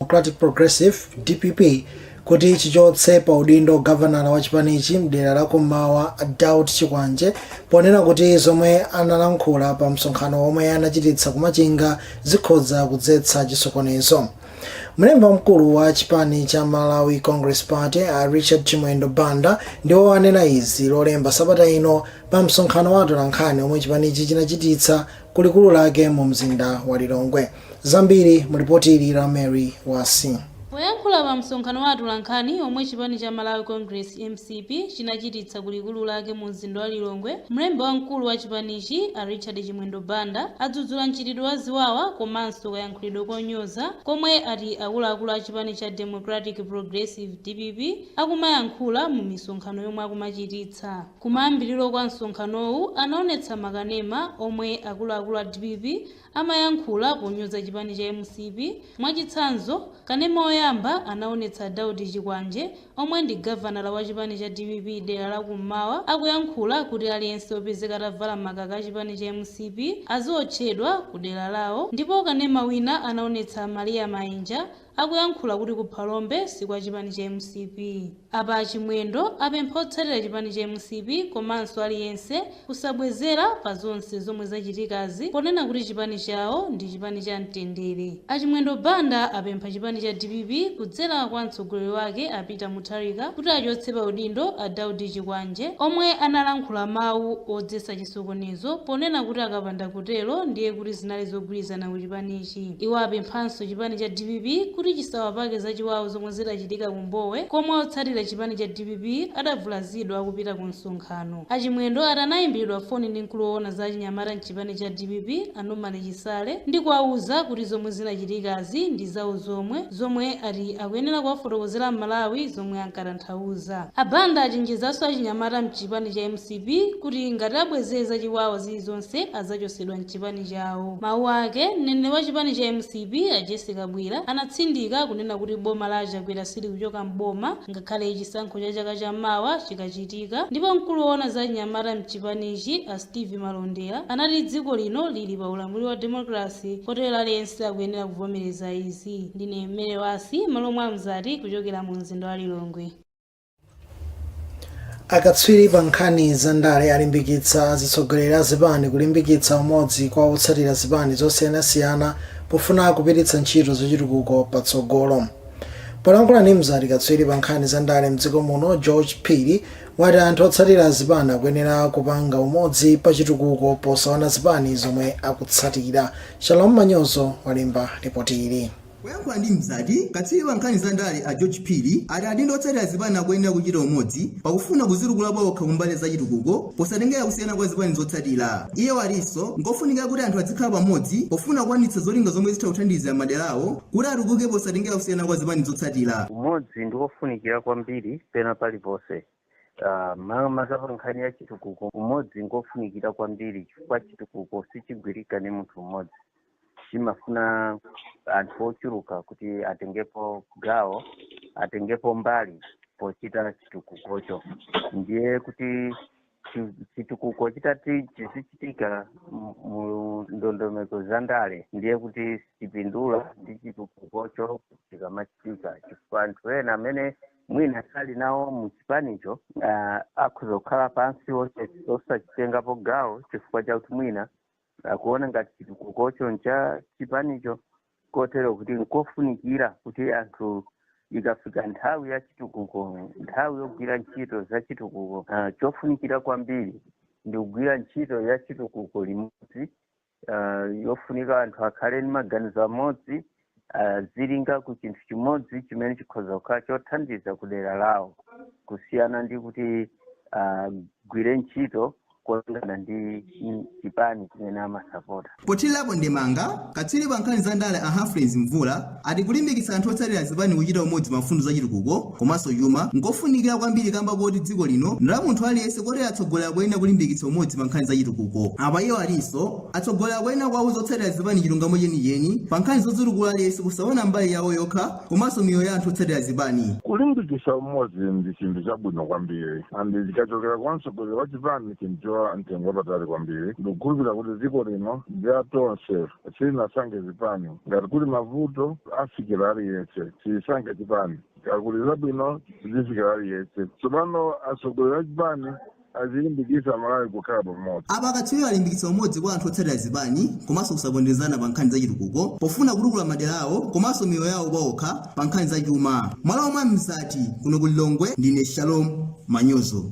Democratic Progressive, dpp, kuti chichotse pa udindo gavanala wa chipanichi mdera la kummawa Daud Chikwanje ponena kuti zomwe analankhula pa msonkhano womwe anachititsa kumachinga zikhoza kudzetsa chisokonezo. Mlembi wamkulu wa chipani cha Malawi Congress Party a Richard Chimwendo Banda ndiwo anena izi lolemba sabata ino pa msonkhano wa atolankhani omwe chipanichi chinachititsa kulikulu lake mu mzinda wa Lilongwe. Zambiri mu lipoti ili la Mary Wasi. Poyankhula pa msonkhano wa atolankhani omwe chipani cha Malawi Congress, mcp, chinachititsa ku likulu lake mu mzinda wa Lilongwe, mlembi wamkulu wa chipanichi a Richard Chimwendo Banda adzudzula mchitidwe wa ziwawa komanso kayankhulidwe konyoza komwe ati akuluakulu a chipani cha Democratic Progressive, dpp, akumayankhula mu misonkhano yomwe akumachititsa. Kumayambiriro kwa msonkhanowu anaonetsa makanema omwe akuluakulu a dpp amayankhula ponyoza chipani cha mcp, mwachitsanzo kanema oyamba anaonetsa a Daud Chikwanje omwe ndi gavanala wa chipani cha dpp dera la ku m'mawa akuyankhula kuti aliyense opezeka atavala makaka a chipani cha mcp aziotchedwa ku dera lawo ndipo kanema wina anaonetsa a Maria Mainja Akuyankhula kuti ku Phalombe si kwa chipani cha mcp. Apa a Chimwendo apempha otsatira chipani cha mcp komanso aliyense kusabwezera pa zonse zomwe zachitikazi ponena kuti chipani chawo ndi chipani cha mtendere. A Chimwendo Banda apempha chipani cha dpp kudzera kwa mtsogoleri wake a Peter Mutharika kuti achotse pa udindo a Daud Chikwanje omwe analankhula mawu odzetsa chisokonezo ponena kuti akapanda kutero ndiye kuti zinali zogwirizana ku chipanichi. Iwo apemphanso chipani cha dpp kuti chisawapake zachiwawa zomwe zidachitika ku Mbowe komwe otsatira chipani cha dpp adavulazidwa akupita ku msonkhano. A Chimwendo ati anaimbidwa foni ndi mkulu owona za achinyamata mchipani cha dpp a Norman Chisale ndikuwauza kuti zomwe zinachitikazi ndi zawo zomwe zomwe ati akuyenera kuwafotokozera aMalawi zomwe ankatanthauza. A Banda achenjezanso achinyamata mchipani cha mcp kuti ngati abwezere zachiwawa zilizonse adzachotsedwa mchipani. chipani chawo. Mawu ake, mneneri wa chipani cha mcp a Jessie Kabwila anatsindika kunena kuti boma la a Chakwera silikuchoka m'boma ngakhale chisankho cha chaka cha mawa chikachitika ndipo mkulu owona za anyamata mchipanichi a Steve Malondera anati dziko lino lili pa ulamuliro wa demokalase kotero aliyense akuyenera kuvomereza izi. Ndine Mary Wasi malo mwa Mzati kuchokera mu mzinda wa Lilongwe. akatswiri pa nkhani za ndale alimbikitsa azitsogoleri a zipani kulimbikitsa umodzi kwa otsatira zipani zosiyanasiyana pofuna kupititsa ntchito zachitukuko patsogolo polankhula ndi mzati katswiri pa nkhani za ndale mdziko muno george phiri wati anthu otsatira zipani akuyenera kupanga umodzi pa chitukuko posaona zipani zomwe akutsatira shalom manyozo walemba lipoti ili Poyankhula ndi Mzati, katswiri pa nkhani za ndale a George Phiri ati adindo ndi otsatira zipani akuyenera kuchita umodzi pakufuna kuzitukula paokha kumbali ya zachitukuko posatengera kusiyana kwa zipani zotsatira. Iye watinso nkofunikira kuti anthu adzikhala pamodzi pofuna kukwaniritsa zolinga zomwe zitha kuthandizira madera awo kuti atukuke posatengera kusiyana kwa zipani zotsatira. Umodzi ndi ofunikira kwambiri pena paliponse. Ah, ma- maka pa nkhani ya chitukuko umodzi ngofunikira kwambiri chifukwa chitukuko sichigwirika ni munthu mmodzi chimafuna anthu ochuluka kuti atengepo gawo atengepo mbali pochita chitukukocho ndiye kuti chi- chitukuko chitati chizichitika mu- mu ndondomeko za ndale ndiye kuti sipindula ndi chitukukocho chikamachitika chifukwa anthu ena amene mwina sali nawo mu chipanicho uh, akhoza kukhala pansi osachitengapo gawo chifukwa chakuti mwina akuona uh, ngati chitukukocho ncha chipanicho kotero kuti nkofunikira kuti anthu ikafika nthawi ya chitukuko nthawi yogwira ntchito za chitukuko uh, chofunikira kwambiri ndi kugwira ntchito ya chitukuko limodzi uh, chofunika anthu akhale ndi maganizo amodzi azilinga uh, ku chinthu chimodzi chimene chikhoza kukhala chothandiza ku dera lawo kusiyana ndi kuti agwire uh, ntchito molingana ndi chipani chimene amasapota pothirirapo ndemanga katswiri pa nkhani za ndale a humphrey mvula ati kulimbikitsa anthu otsatira zipani kuchita umodzi pa mfundo za chitukuko komanso chuma n'kofunikira kwambiri kamba koti dziko lino ndi la munthu aliyense kotero atsogoleri akuyenera kulimbikitsa umodzi pa nkhani za chitukuko. Apa iwo atinso atsogoleri akuyenera kuwauza otsatira zipani chilungamo chenicheni pa nkhani zodzitukula aliyense kusaona mbali yawo yokha komanso miyoyo ya anthu otsatira zipani. Kulimbikitsa umodzi ndi chinthu chabwino kwambiri and chikachokera kwa mtsogoleri wa chipani chinthu cha mtengo wapatali kwambiri. Ndikukhulupirira kuti dziko lino ndi la tonse. Silinasankhe zipani. Ngati kuli mavuto afikira aliyense. Silisankha chipani. Ngati kuli zabwino zifikira aliyense. Tsopano atsogoleri a chipani azilimbikitsa Amalawi kukhala pamodzi. Apa akatswiriwa alimbikitsa umodzi kwa anthu otsatira zipani komanso kusaponderezana pa nkhani za chitukuko pofuna kutukula madera awo komanso miyoyo yawo paokha pa nkhani za chuma. M'malo mwa Mzati, kuno ku Lilongwe ndine Shalom Manyozo.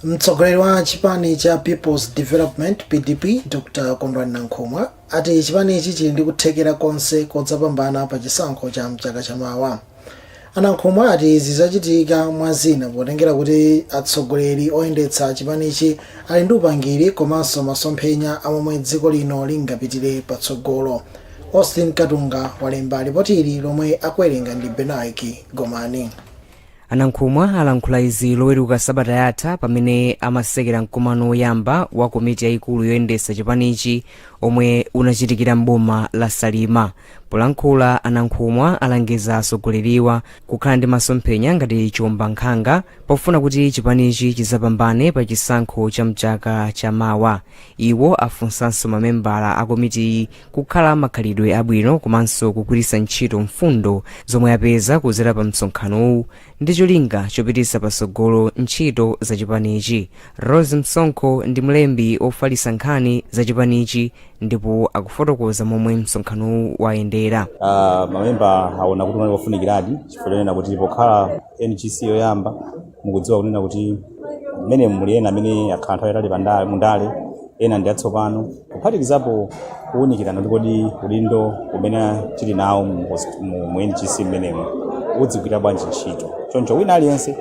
mtsogoleri wa chipani cha peoples development pdp dr kondwani nankhumwa ati chipanichi chili ndi kuthekera konse kodzapambana pa chisankho cha mchaka chamawa anankhumwa ati izi zizachitika mwa zina potengera kuti atsogoleri oyendetsa chipanichi ali ndi upangiri komanso masomphenya a momwe dziko lino lingapitire patsogolo austin katunga walemba lipoti ili lomwe akuwerenga ndi benaiki gomani a Nankhumwa alankhula izi loweruka sabata yatha pamene amatsekera mkumano woyamba wa komiti yayikulu yoyendetsa chipanichi omwe unachitikira mboma la salima polankhula a Nankhumwa alangiza atsogoleriwa kukhala ndi masomphenya ngati chiombankhanga pofuna kuti chipanichi chidzapambane pa chisankho cha mchaka cha mawa iwo afunsanso mamembala a komitiyi kukhala makhalidwe abwino komanso kugwiritsa ntchito mfundo zomwe apeza kudzera pa msonkhanowu ndi cholinga chopititsa patsogolo ntchito za chipanichi rose msonkho ndi mlembi wofalitsa nkhani za chipanichi ndipo akufotokoza momwe msonkhanowu wayendera Ah, mamemba aona kuti unali wofunikiradi chifukwa chonena kuti pokhala ngc yoyamba mukudziwa kunena kuti mmenemu muli ena amene akhala nthawi yatali pandale mundale ena ndi atsopano kuphatikizapo kuwunikirana kuti kodi udindo umene tili nawo mu hos- mu- mu ngc mmenemo udzigwira bwanji ntchito choncho wina aliyense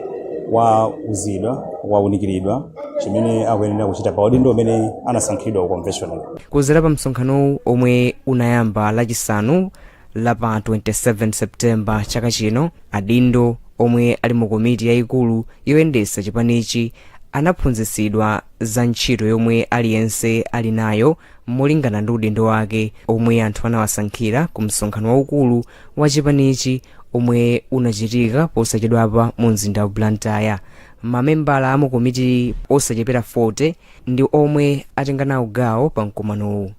wauzidwa wawunikiridwa chimene akuyenera kuchita pa udindo umene anasankhidwa ku convention kudzera pa msonkhanowu omwe unayamba lachisanu la pa 27 september chaka chino adindo omwe ali mu komiti yayikulu yoyendetsa chipanichi anaphunzitsidwa za ntchito yomwe aliyense ali nayo molingana ndi udindo wake omwe anthu anawasankhira ku msonkhano waukulu wa chipanichi omwe unachitika posachedwapa mu mzinda wa blantyre mamembala a mu komiti osachepera 40 ndi omwe atenga nawo gawo pa mkumanowu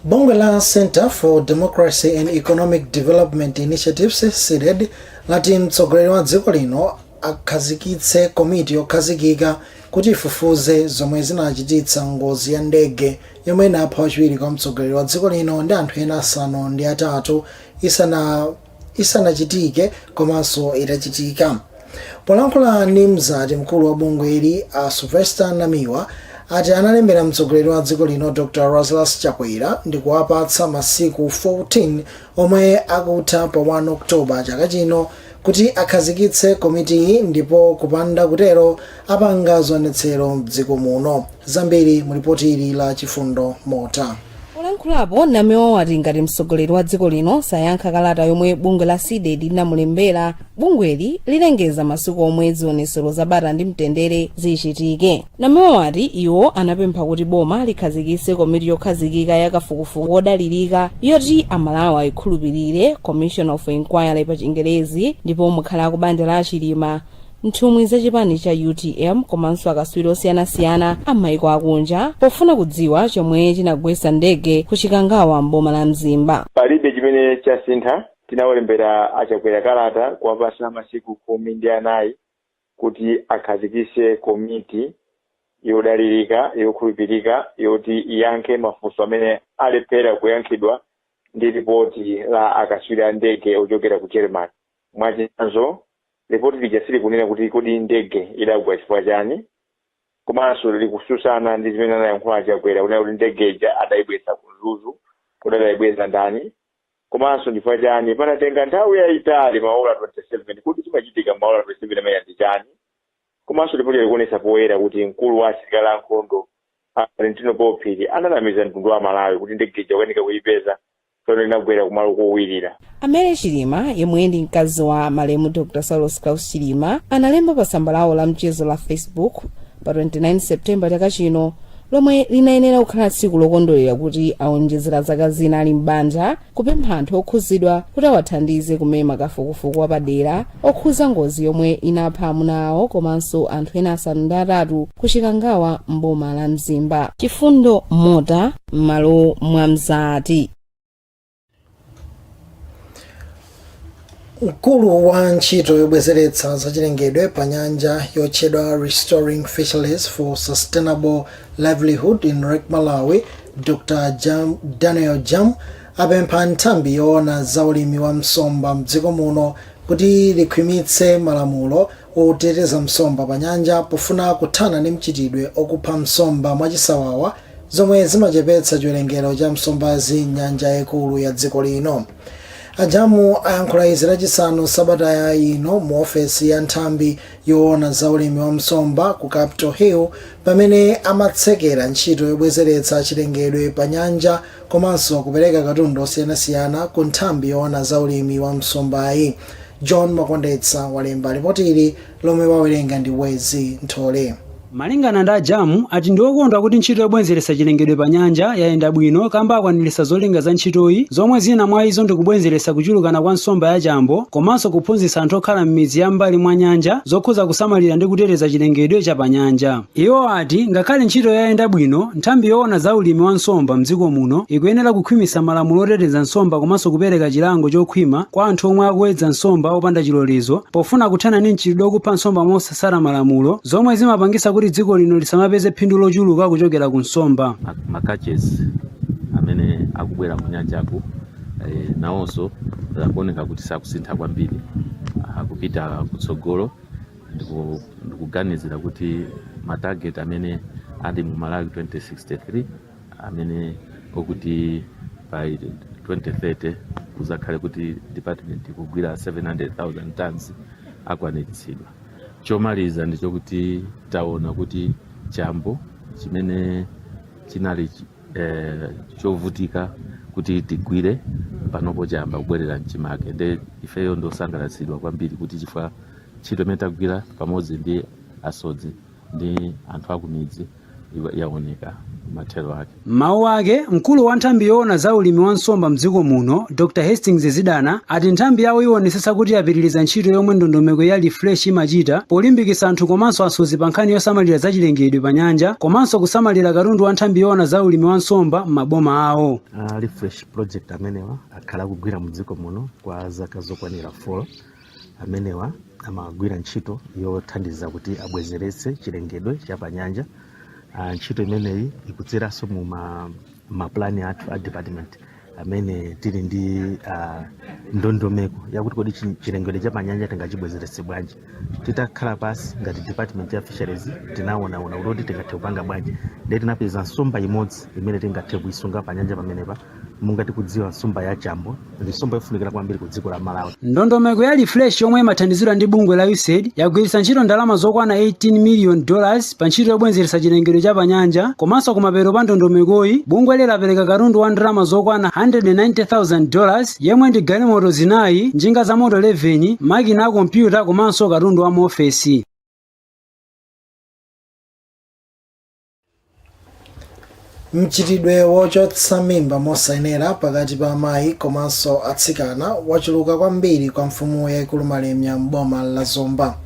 Bungwe la Center for Democracy and Economic Development Initiatives CDEDI lati mtsogoleri wa dziko lino akhazikitse komiti yokhazikika kuti ifufuze zomwe zinachititsa ngozi ya ndege yomwe inapha wachiwiri kwa mtsogoleri wa dziko lino ndi anthu ena asanu ndi atatu isana isanachitike komanso itachitika. Polankhula ndi Mzati, mkulu wa bungweli a Sylvester Namiwa ati analembera mtsogoleri wa dziko lino Dr Lazarus Chakwera ndikuwapatsa masiku 14 omwe akutha pa 1 October chaka chino kuti akhazikitse komitiyi ndipo kupanda kutero apanga zionetsero mdziko muno. Zambiri mu lipoti ili la Chifundo Mota. Polankhulapo, Namiwa wati ngati mtsogoleri wa dziko lino sayankha kalata yomwe bungwe la Cdedi linamulembera, bungweli lilengeza masiku omwe zionetsero za bata ndi mtendere zichitike. Namiwa wati iwo anapempha kuti boma likhazikitse komiti yokhazikika ya kafukufuku wodalirika yoti Amalawi ayikhulupirire, Commission of Inquiry pachingerezi, ndipo mukhale akubanja la a Chilima nthumwi za chipani cha utm komanso akatswiri osiyanasiyana a m'maiko akunja pofuna kudziwa chomwe chinagwetsa ndege ku chikangawa m'boma la mzimba palibe chimene chasintha tinawalembera a Chakwera kalata kuwapatsa masiku khumi ndi anayi kuti akhazikitse komiti yodalirika yokhulupirika yoti iyankhe mafunso amene alephera kuyankhidwa ndi ripoti la akatswiri a ndege ochokera ku germany Mwachitsanzo, lipoti lija silikunena kuti kodi ndege idagwa chifukwa chani komanso likutsutsana ndi zimene anayankhula a Chakwera kunena kuti ndege ija adaibweza ku Mzuzu, kodi adaibweza ndani komanso chifukwa chani panatenga nthawi yaitali maola 27, kodi chimachitika m'maola 27 amenewa ndi chani komanso lipotilo likuonetsa poyera kuti mkulu wa asilikali a nkhondo a Valentino Paul Phiri ananamiza mtundu wa Amalawi kuti ndege ija ikukanika kuipeza poti inagwera kumalo kowirira A Mary Chilima yemwe ndi mkazi wa malemu Dr. Saulos Klaus Chilima analemba pa tsamba lawo la mchezo la Facebook pa 29 September chaka chino lomwe linayenera kukhala tsiku lokondwerera kuti aonjezera zaka zina ali m'banja kupempha anthu okhudzidwa kuti awathandize kumema kafukufuku wapadera okhuza ngozi yomwe inapha amuna awo komanso anthu ena asanu ndi atatu ku Chikangawa m'boma la Mzimba. Chifundo Mota m'malo mwa Mzati. mkulu wa ntchito yobwezeretsa zachilengedwe pa nyanja yotchedwa restoring fisheries for sustainable livelihood in lake malawi dr daniel jamu apempha nthambi yoona za ulimi wa nsomba mdziko muno kuti likhwimitse malamulo oteteza nsomba pa nyanja pofuna kuthana ndi mchitidwe okupha nsomba mwachisawawa zomwe zimachepetsa chiwerengero cha nsombazi m'nyanja yaikulu ya dziko lino. A Jamu ayankhula izi lachisanu sabata ino mu ofesi ya nthambi yowona za ulimi wa nsomba ku Capital Hill pamene amatsekera ntchito yobwezeretsa chilengedwe pa nyanja komanso kupereka katundu osiyanasiyana ku nthambi yowona za ulimi wa nsombayi. John Makondetsa walemba lipotili lomwe wawerenga ndi Wezzie Nthole. Malingana ndi a Jamu ati ndi okondwa kuti ntchito yobwezeretsa chilengedwe pa nyanja yayenda bwino kamba akwaniritsa zolinga za ntchitoyi zomwe zina mwa izo ndi kubwezeretsa kuchulukana kwa nsomba ya chambo komanso kuphunzitsa anthu okhala m'midzi ya m'mbali mwa nyanja zokhuza kusamalira ndi kuteteza chilengedwe cha pa nyanja. Iwo ati ngakhale ntchito yayenda bwino, nthambi yoona za ulimi wa nsomba m'dziko muno ikuyenera kukhwimitsa malamulo oteteza nsomba komanso kupereka chilango chokhwima kwa anthu omwe akuwedza nsomba opanda chilolezo pofuna kuthana ndi mchitidwe okupha nsomba mosa mosatsata malamulo zomwe zimapangisa kuti dziko lino lisamapeze phindu lochuluka kuchokera ku nsomba. Ma- makachesi amene akubwera mu nyanjaku eh, nawonso akuoneka kuti sakusintha kwambiri akupita kutsogolo ndiku- ndikuganizira kuti matageti amene ali mu malawi 2063 amene okuti by 2030 kuzakhale kuti department ikugwira 700,000 tons akwaniritsidwa. Chomaliza ndi chokuti taona kuti chambo chimene chinali chi- eh, chovutika kuti tigwire panopo chamba kubwerera mchimake nde ifeyo ndiosangalatsidwa kwambiri kuti chifukwa ntchito imene tagwira pamodzi ndi asodzi ndi anthu akumidzi iwa- yaoneka mathero ake M'mawu ake, mkulu wa nthambi yoona za ulimi wa nsomba mdziko muno, Dr Hastings Zidana, ati nthambi yawo iwonetsetsa kuti yapitiriza ntchito yomwe ndondomeko ya Refresh imachita polimbikitsa anthu komanso asodzi pa nkhani yosamalira zachilengedwe pa nyanja komanso kusamalira katundu wa nthambi yoona za ulimi wa nsomba m'maboma awo. a refresh project amenewa akhala akugwira mu dziko muno kwa zaka zokwanira 4 amenewa amagwira ntchito yothandiza kuti abwezeretse chilengedwe cha panyanja uh, ntchito imeneyi ikudzeranso mu ma, mapulani athu a department amene tili ndi uh, ndondomeko yakuti kodi chi- chilengedwe cha panyanja tingachibwezeretse bwanji titakhala pasi ngati department ya fisheries tinaona kuti tingathe kupanga bwanji ndiye tinapeza nsomba imodzi imene tingathe kuisunga panyanja pamenepa monga tikudziwa nsomba ya chambo ndi nsomba yofunikira kwambiri ku dziko la malawi ndondomeko ya refresh yomwe imathandizidwa ndi bungwe la usaid yagwiritsa ntchito ndalama zokwana 18 million dollars pa ntchito yobwenzeretsa chilengedwe cha panyanja komanso kumapeto kwa ndondomekoyi bungweli lapereka katundu wa ndalama zokwana 190,000 dollars yemwe ndi galimoto zinayi njinga za moto 11 makina a kompyuta komanso katundu wa mu ofesi mchitidwe wochotsa mimba mosayenera pakati pa amayi komanso atsikana wachuluka kwambiri kwa mfumu yaikulu malemia m'boma la zomba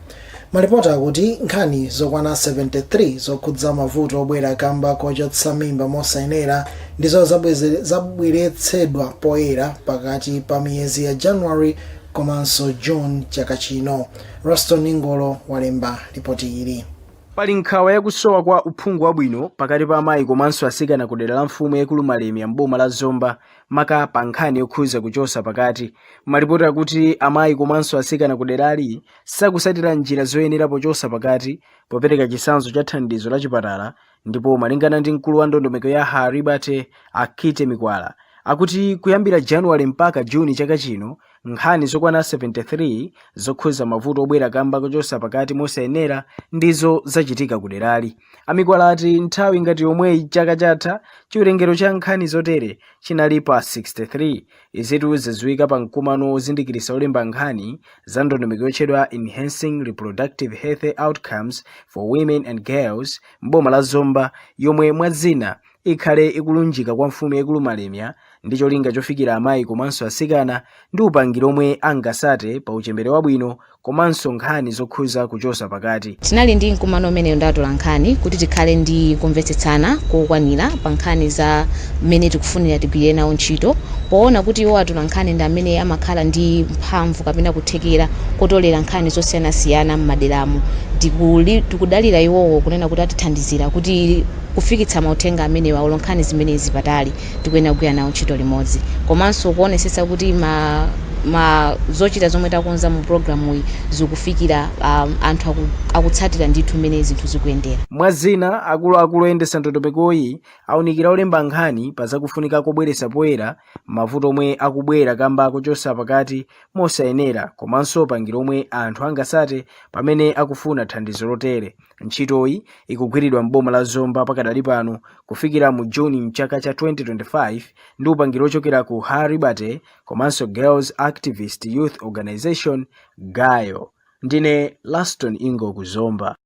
malipoti akuti nkhani zokwana 73 zokhudza mavuto obwera kamba kochotsa mimba mosayenera ndizo zabweze- zabweretsedwa poyera pakati pa miyezi ya january komanso june chaka chino roston ngolo walemba lipoti ili Pali nkhawa ya kusowa kwa uphungu wabwino pakati pa amayi komanso asikana ku dera la mfumu yaikulu Malemia m'boma la Zomba maka pa nkhani yokhuza kuchosa pakati. Malipoti akuti amayi komanso asikana ku derali sakusatira njira zoyenera pochosa pakati popereka chisanzo cha thandizo la chipatala ndipo malingana ndi mkulu wa ndondomeko ya Her Liberty a Kitty Mikwala akuti kuyambira January mpaka June chaka chino Nkhani zokwana 73 zokhudza mavuto obwera kamba kochotsa pakati mosayenera ndizo zachitika kuderali. A Mikwala ati nthawi ngati yomweyi chaka chatha, chiwerengero cha nkhani zotere chinali pa 63. Izitu zadziwika pa mkumano wozindikiritsa olemba nkhani za ndondomeko yotchedwa Enhancing Reproductive Health Outcomes for Women and Girls m'boma la Zomba yomwe mwa zina ikhale ikulunjika kwa Mfumu yaikulu Malemia ndi cholinga chofikira amayi komanso atsikana ndi upangiri omwe angasate pa uchembere wabwino komanso nkhani zokhuza kuchosa pakati. Tinali ndi mkumano umenewo ndi atolankhani kuti tikhale ndi kumvetsetsana kokwanira pa nkhani za mmene tikufunira tigwire nawo ntchito poona kuti iwo atolankhani ndi amene amakhala ndi mphamvu kapena kuthekera kotolera nkhani zosiyanasiyana mmaderamo. Tikudalira iwowo kunena kuti atithandizira kuti. kufikitsa mauthenga amenewa olo nkhani zimenezi patali tikuyenera kugwira nawo ntchito limodzi komanso kuonesetsa kuti ma, ma zochita zomwe takonza mu programuyi zikufikira um, anthu aku, akutsatira ndithu mmene zinthu zikuyendera Mwa zina, akuluakulu oyendetsa ndondomekoyi aunikira olemba nkhani pa zakufunika kobweretsa poyera mavuto omwe akubwera kamba kochotsa pakati mosayenera komanso upangiri omwe anthu angatsate pamene akufuna thandizo lotere. Ntchitoyi ikugwiridwa m'boma la Zomba pakadali pano kufikira mu June mchaka cha 2025 ndi upangiri ochokera ku Her Liberty komanso Girls Activist Youth Organization Gayo. Ndine Laston Ingo ku Zomba.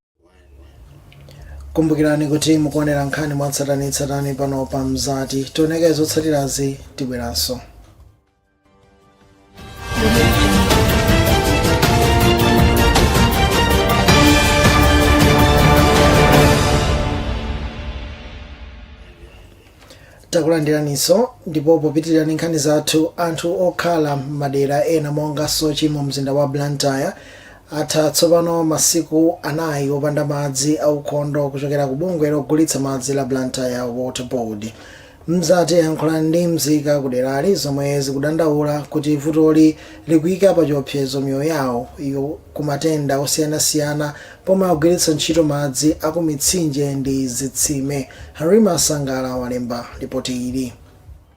Kumbukirani kuti mukuonera nkhani mwatsatanetsatane pano pa Mzati. Tioneko zotsatirazi tibweranso. takulandiraniso ndipo popitirira ndi nkhani zathu anthu okhala m'madera ena monga sochi mu mzinda wa blantyre atha tsopano masiku anayi opanda madzi aukhondo kuchokera ku bungwe logulitsa madzi la blantyre water board Mzati yayankhula ndi mzika kuderali zomwe zikudandaula kuti vutoli likuika pachiopsezo miyoyo yawoyo kumatenda osiyanasiyana pomwe akugwiritsa ntchito madzi aku mitsinje ndi zitsime. Halima Sangala walemba lipoti ili.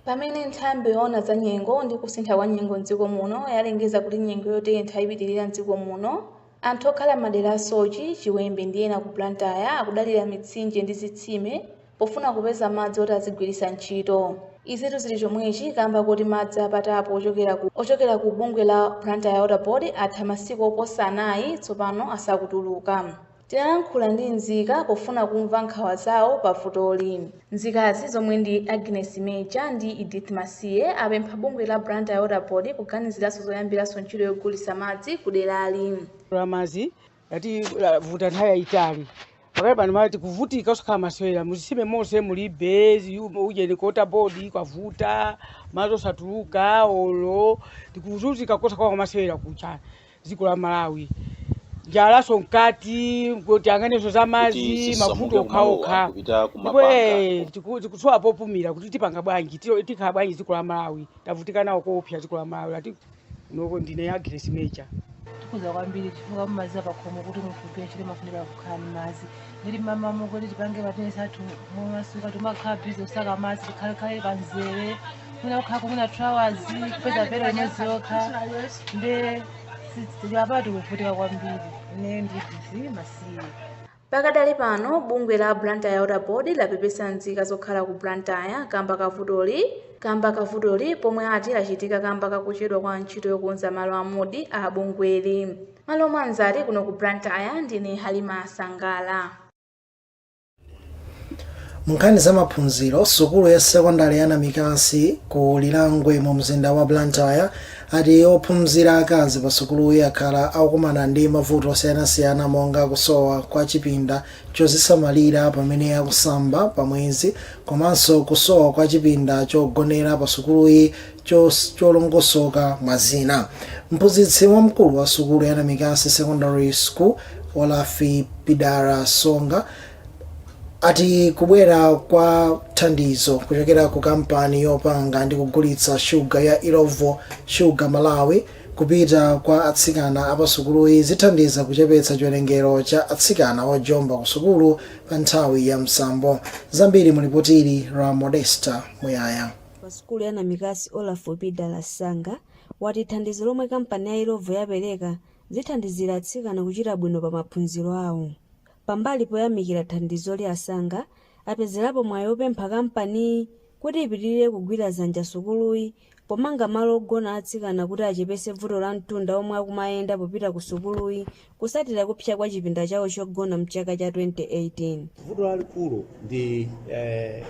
Pamene nthambi yoona za nyengo ndi kusintha kwa nyengo m'dziko muno yalengeza kuti nyengo yotentha ipitilira m'dziko muno, anthu okhala m'madera a Sochi, Chiwembe ndi ena ku Blantyre akudalira mitsinje ndi zitsime pofuna kupeza madzi oti azigwiritsa ntchito. Izitu zili chomwechi kamba koti madzi a pa tapu ochokera ku ochokera ku bungwe la Blantyre Water Board atha masiku oposa anayi tsopano asakutuluka. Tinalankhula ndi nzika pofuna kumva nkhawa zawo pa vutoli. Nzikazi zomwe ndi Agnes Meja ndi Edith Masiye apempha bungwe la Blantyre Water Board kuganiziranso zoyambiranso ntchito yogulitsa madzi kuderali. Nda mazi Ativuta nthawi yayitali pakali pano ma tikuvutika osakhala masewera muzisime mose mulibe ziyumo ujeni ku Water Board kwavuta mazi osatuluka olo tikuzuzika kosakhala masewera kucha dziko la Malawi njalaso mkati kuti maganizo za kuti mazi mavuto zisamuke kumalowa okhaokha kupita ndipo kumapanga eh, tiku- tikusowa popumira kuti tipanga bwanji tilo- tikhala bwanji dziko la Malawi tavutika nawo koopsa dziko la Malawi Lati- kunoko ndine Agnes Meja tikhuzika kwambiri chifukwa mazi apakhomo kuti munthu upiye chili mafunika kukhala ndi madzi ndiye mmamawa kuti tipange mabizinesi athu momasuka timakhala bizi kusaka madzi tikhalekhale panzere mwina kukhala mwina two hours kupeza pelo imodzi yokha nde apapa tikuvutika kwambiri ine ndi Edith Masiye Pakadali pano bungwe la Blantyre Water Board lapepesa nzika zokhala ku Blantyre kamba ka vutoli kamba ka vutoli pomwe ati lachitika kamba ka kuchedwa kwa ntchito yokonza malo a Mudi a bungweli. Malo mwa Mzati kuno ku Blantyre ndine Halima Sangala. Munkhani za maphunziro, sukulu ya sekondale ya Namikasi ku Lirangwe mu mzinda wa Blantyre ati ophunzira akazi pa sukuluyi akhala akukumana ndi mavuto osiyanasiyana monga kusowa kwa chipinda chozisamalira pamene akusamba pa mwezi komanso kusowa kwa chipinda chogonera pa sukuluyi chos- cholongosoka mwa zina mphunzitsi wamkulu wa sukulu ya namikasi secondary school Olaf Pidala Sanga ati kubwera kwa thandizo kuchokera ku kampani yopanga ndi kugulitsa shuga ya Illovo Sugar Malawi kupita kwa atsikana apasukuluyi zithandiza kuchepetsa chiwerengero cha atsikana ojomba ku sukulu pa nthawi ya msambo zambiri mulipotili la Modesta Muyaya pa sukulu ya Namikasi Olaf Pidala Sanga wati thandizo lomwe kampani ya Illovo yapereka zithandizira atsikana kuchita bwino pa maphunziro awo Pambali poyamikira thandizoli a Sanga apezerapo mwayi opempha kampaniyi kuti ipitilire kugwira zanja sukuluyi pomanga malo ogona atsikana kuti achepese vuto la mtunda omwe akumayenda popita ku sukuluyi kusatira kupsa kwa chipinda chawo chogona mchaka cha 2018. Vuto lalikulu ndi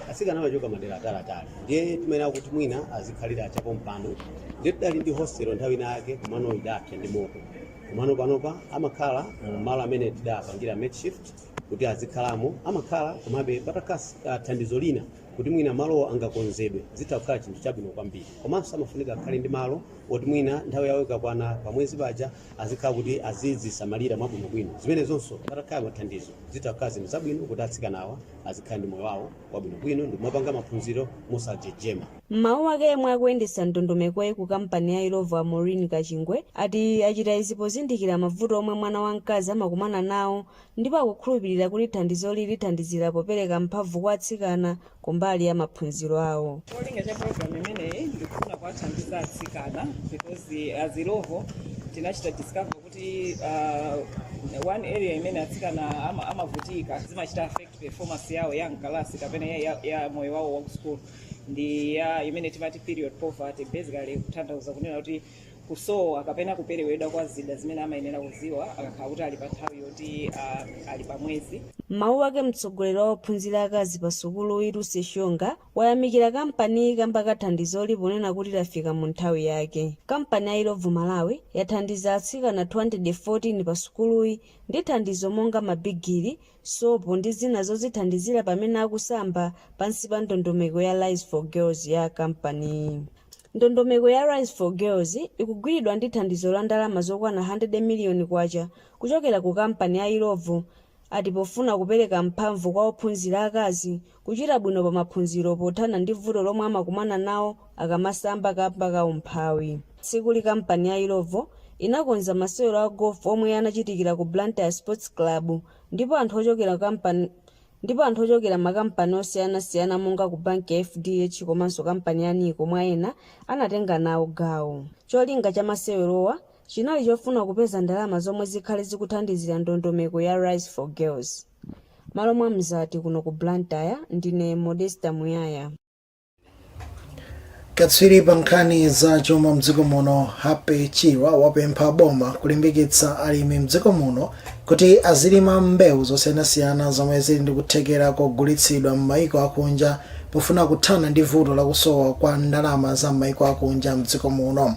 atsikana amachoka madera atalatali ndiye timayenera kuti mwina azikhalira chapompano ndiye tidali ndi hostel nthawi ina yake komano idapsa ndi moto. komano panopa amakhala mu malo amene tidapangira makeshift kuti azikhalamo amakhala komabe patakhala ah, thandizo lina kuti mwina malowo angakonzedwe zitha kukhala chinthu chabwino kwambiri komanso amafunika akhale ndi malo oti mwina nthawi yawo ikakwana pamwezi paja azikhala kuti azizisamalira mwabwinobwino zimenezonso patakhala mathandizo zitha kukhala zinthu zabwino kuti atsikanawa azikhala ndi moyo wawo wabwinobwino ndi kumapanga maphunziro mosajejema M'mawu ake yemwe akuyendetsa ndondomekoyi ku kampani ya Illovo a Maureen Kachingwe ati achita izi pozindikira mavuto omwe mwana wa mkazi amakumana nawo ndipo akukhulupilira kuti thandizoli lithandizira popereka mphamvu kwa atsikana kumbali ya maphunziro awo. Cholinga cha program imeneyi ndikufuna kuwathandiza atsikana because as Illovo tinachita discover kuti uh, one area imene atsikana amavutika zimachita affect performance yawo ya mkalasi kapena ya moyo wawo wa ku school ndi ya imene timati period poverty basically kutanthauza kunena kuti kusowa kapena kuperewedwa kwa zida zimene amayenera kuziwa akakhala kuti ali pa nthawi yoti ah, ali pa mwezi m'mawu ake mtsogoleri wa ophunzira akazi pa sukuluyi lucy shonga wayamikira kampaniyi kamba ka thandizoli ponena kuti lafika mu nthawi yake kampani ya illovo malawi yathandiza atsikana 214 pa sukuluyi ndi thandizo monga mabigili sopo ndi zina zozithandizira pamene akusamba pansi pa ndondomeko ya Rise for Girls ya kampaniyi. Ndondomeko ya Rise for Girls ikugwiridwa ndi thandizo la ndalama zokwana 100 miliyoni kwacha kuchokera ku kampani ya Illovo ati pofuna kupereka mphamvu kwa ophunzira akazi Kuchita bwino pa maphunziro pothana ndi vuto lomwe amakumana nawo akamasamba kamba ka umphawi. Tsikuli kampani ya Illovo inakonza masewero a Golf omwe anachitikira ku Blantyre Sports Club ndipo anthu ochokera makampani osiyana siyana monga ku banki ya FDH komanso kampani ya Nico mwa ena anatenga nawo gawo. Cholinga cha masewerowa chinali chofuna kupeza ndalama zomwe zikhale zikuthandizira ndondomeko ya Rise for Girls. Malo mwa Mzati kuno ku Blantyre, ndine Modesta Muyaya. Katswiri pa nkhani za chuma mdziko muno Happy Chirwa wapempha boma kulimbikitsa alimi mdziko muno kuti azilima mbewu zosiyanasiyana zomwe zili ndi kuthekera kogulitsidwa m'mayiko akunja pofuna kuthana ndi vuto lakusowa kwa ndalama za m'mayiko akunja mdziko muno.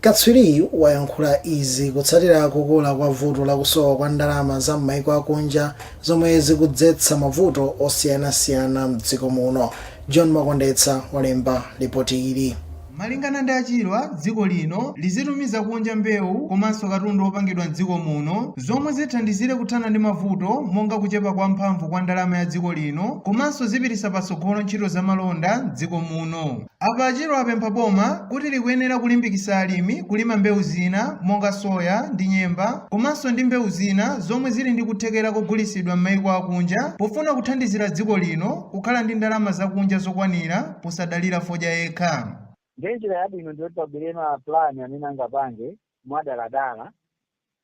Katswiriyu wayankhula izi kutsatira kukula kwa vuto la kusowa kwa ndalama za m'mayiko akunja zomwe zikudzetsa mavuto osiyanasiyana m'dziko muno. John Makondetsa walemba lipoti ili. Malingana ndi a Chirwa, dziko lino lizitumiza kunja mbewu komanso katundu opangidwa m'dziko muno zomwe zithandizire kuthana ndi mavuto monga kuchepa kwa mphamvu kwa ndalama ya dziko lino komanso zipititsa patsogolo ntchito za malonda m'dziko muno. Apa a Chirwa apempha boma kuti likuyenera kulimbikisa alimi kulima mbewu zina monga soya ndi nyemba komanso ndi mbewu zina zomwe zili ndi kuthekera kogulitsidwa m'maiko akunja pofuna kuthandizira dziko lino kukhala ndi ndalama zakunja zokwanira posadalira fodya yekha. Ndiye njira yabwino ndiyoti pabwere ma plan amene angapange mwadaladala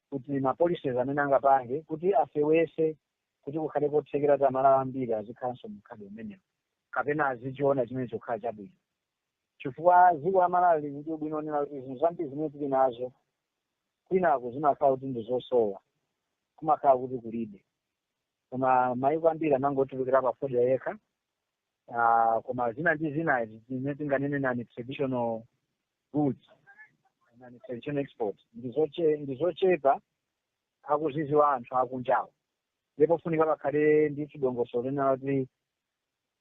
kuti ma policies amene angapange kuti afewese kuti kukhale kothekera kuti amalawi ambiri azikhalanso mumkhalidwe umenewu kapena azichiona chimenecho kukhala chabwino chifukwa dziko la malawi lili ndi ubwino wonena kuti zinthu zambiri zimene tili nazo kwinaku zimakhala kuti ndi zosowa kumakhala kuti kulibe koma mayiko ambiri amangotulukira pa fodya yekha Ah, koma zina ndi zina zimene tinganene non traditional goods non traditional export ndizoche- ndizochepa akuziziwa anthu akunjawo ndipo funika pakhale ndi chidongosolo china choti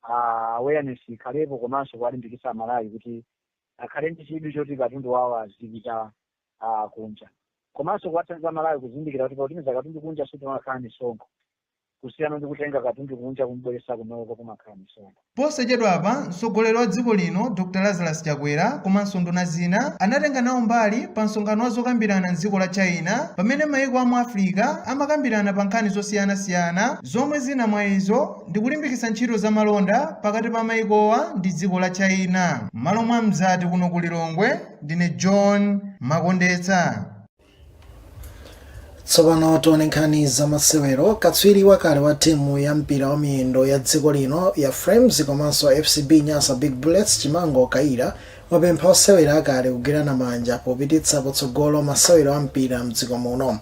ah, awareness ikhalepo komanso kuwalimbikitsa amalawi kuti akhale ndi chidwi choti katundu wawo azipita ah, kunja komanso kuwathandiza amalawi kuzindikira kuti pautumiza katundu kunja sikumakhala misonkho kusiyana ndi kutenga katundu kunja kumubweretsa kunoko kumakhala misonkho. Posachedwapa, mtsogoleri wa dziko lino Dr Lazarus Chakwera komanso nduna zina anatenga nawo mbali pa msonkhano wa zokambirana m'dziko la China pamene maiko a mu Africa amakambirana pa nkhani zosiyana siyana zomwe zina mwa izo ndi kulimbikitsa ntchito za malonda pakati pa maikowa ndi dziko la China. M'malo mwa Mzati kuno ku Lilongwe, ndine John Makondetsa. tsopano tione nkhani za masewero katswiri wakale wa timu ya mpira wa miyendo ya dziko lino ya flames komanso fcb nyasa big bullets chimango kayira wapempha osewera akale kugwirana manja popititsa patsogolo masewero a mpira mdziko muno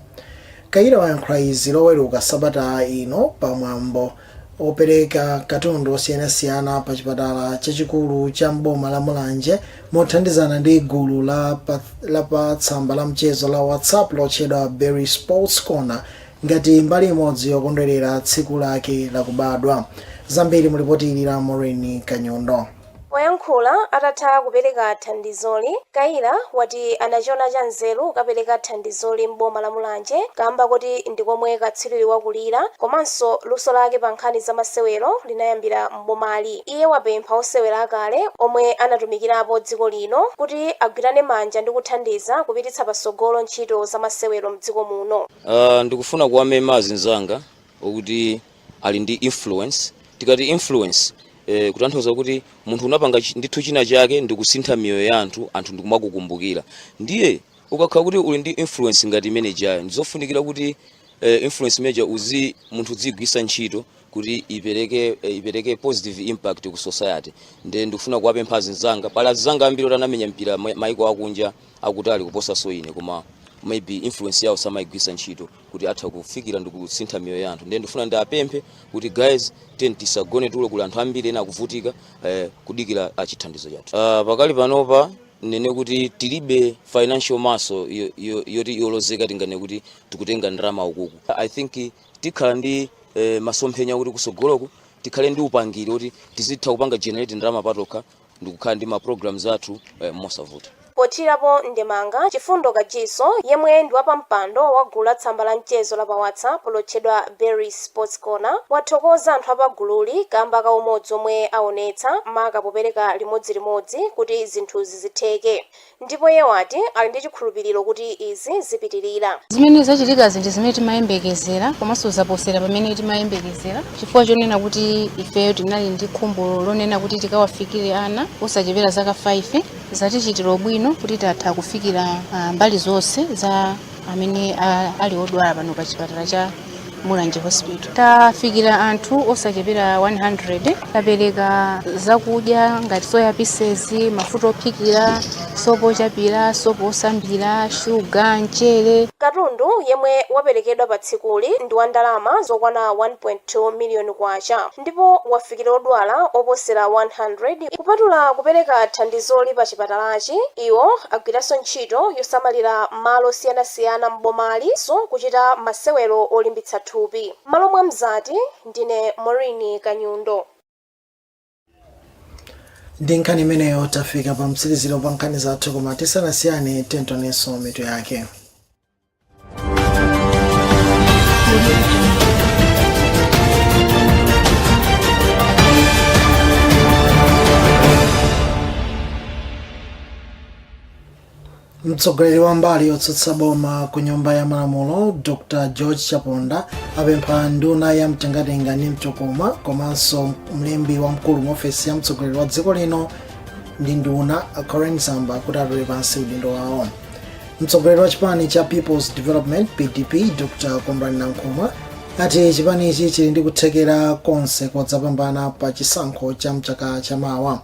kayira wayankhula izi loweruka sabata ino pamwambo opereka katundu osiyanasiyana pa chipatala chachikulu cha mboma la mulanje mothandizana ndi gulu la pa tsamba la mchezo la whatsapp lotchedwa berry sports corner ngati mbali imodzi yokondwerera tsiku lake lakubadwa zambiri mulipoti ili la maureen kanyondo Poyankhula atatha kupereka thandizoli, Kayira wati anachiona cha nzeru kukapereka thandizoli m'boma la Mulanje kaamba koti ndi komwe katswiriyu wakulira komanso luso lake pa nkhani za masewero linayambira m'bomali. Iye wapempha osewera akale omwe anatumikirapo dziko lino kuti agwirane manja ndi kuthandiza kupititsa patsogolo ntchito za masewero m'dziko muno. Ndikufuna kuwamema azinzanga okuti. ali ndi influence tikati influence eh, kutanthauza kuti munthu unapanga chi- ndithu china chake ndi kusintha miyoyo ya anthu anthu ndikumakukumbukira ndiye ukakhala kuti uli ndi influence ngati imeneyo ndizofunikira kuti eh, influence imeneyo uzi munthu uziyigwisa ntchito kuti ipereke eh, ipereke positive impact ku society nde ndikufuna kuwapempha azinzanga pali azinzanga ambiri oti anamenya mpira ma- maiko akunja akutali kuposanso ine koma maybe influence yawo samayigwisa ntchito kuti atha kufikira ndi kusintha miyoyo ya anthu ndiye ndifuna ndiwapemphe kuti guys tiyeni tisagone tulo kuli anthu ambiri ena akuvutika eh, kudikira achithandizo chathu uh, pakali panopa ndinene kuti tilibe financial muscle yo- yo- yoti yolozeka tinganene kuti tikutenga ndalama uku uku i think tikhala ndi eh, masomphenya kuti kusogoloku tikhale ndi upangiri kuti tizitha kupanga generate ndalama patokha ndikukhala ndi ma programs athu eh, mosavuta Pothirapo ndemanga, Chifundo Kachiso, yemwe ndi wapampando wa gulu la tsamba la mchezo la pa WhatsApp lotchedwa Berry's Sports Corner, wathokoza anthu a pagululi kamba ka umodzi omwe aonetsa maka popereka limodzilimodzi kuti zinthuzi zitheke. Ndipo iye wati ali ndi chikhulupiliro kuti izi zipitilira. Zimene zachitikazi ndi zimene timayembekezera komanso zaposera pamene timayembekezera chifukwa chonena kuti ifeyo tinali ndi khumbo lonena kuti tikawafikire ana osachepera zaka 5. Zatichitira ubwino kuti tatha kufikira mbali zonse za amene ali odwala pano pa chipatala cha. mulanje hospital tafikira anthu osachepera 100 tapereka zakudya ngati soya pieces mafuta ophikira sopo ochapira sopo osambira shuga mchere katundu yemwe waperekedwa pa tsikuli ndi wa ndalama zokwana 1.2 miliyoni kwacha ndipo wafikira odwala oposera 100. Kupatula kupereka thandizoli pa chipatalachi, iwo agwiranso ntchito yosamalira malo osiyanasiyana m'bomali komanso kuchita masewero olimbitsa thupi. M'malo mwa Mzati, ndine Maureen Kanyundo. Ndi nkhani imeneyo tafika pa mtsiriziro pa nkhani zathu, koma tisanasiyane timvenso mitu yake. mtsogoleri wa mbali yotsutsa boma ku nyumba ya malamulo dr george chaponda apempha nduna ya mtengatenga ndi mtokoma komanso mlembi wamkulu mu ofesi ya mtsogoleri wa dziko lino ndi nduna a colleen zamba kuti atule pansi udindo wawo mtsogoleri wa chipani cha peoples development pdp dr kondwani nankhumwa ati chipanichi chili ndi kuthekera konse kodzapambana pa chisankho cha mchaka cha mawa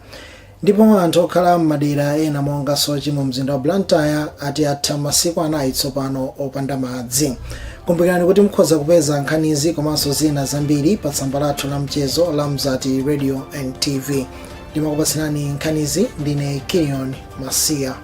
ndipo anthu okhala m'madera ena monga soche mu mzinda wa blantyre ati atha masiku anayi tsopano opanda madzi kumbukirani kuti mukhoza kupeza nkhanizi komanso zina zambiri pa tsamba lathu la mchezo la mzati radio and tv ndimakupatsirani nkhanizi ndine kilion masiya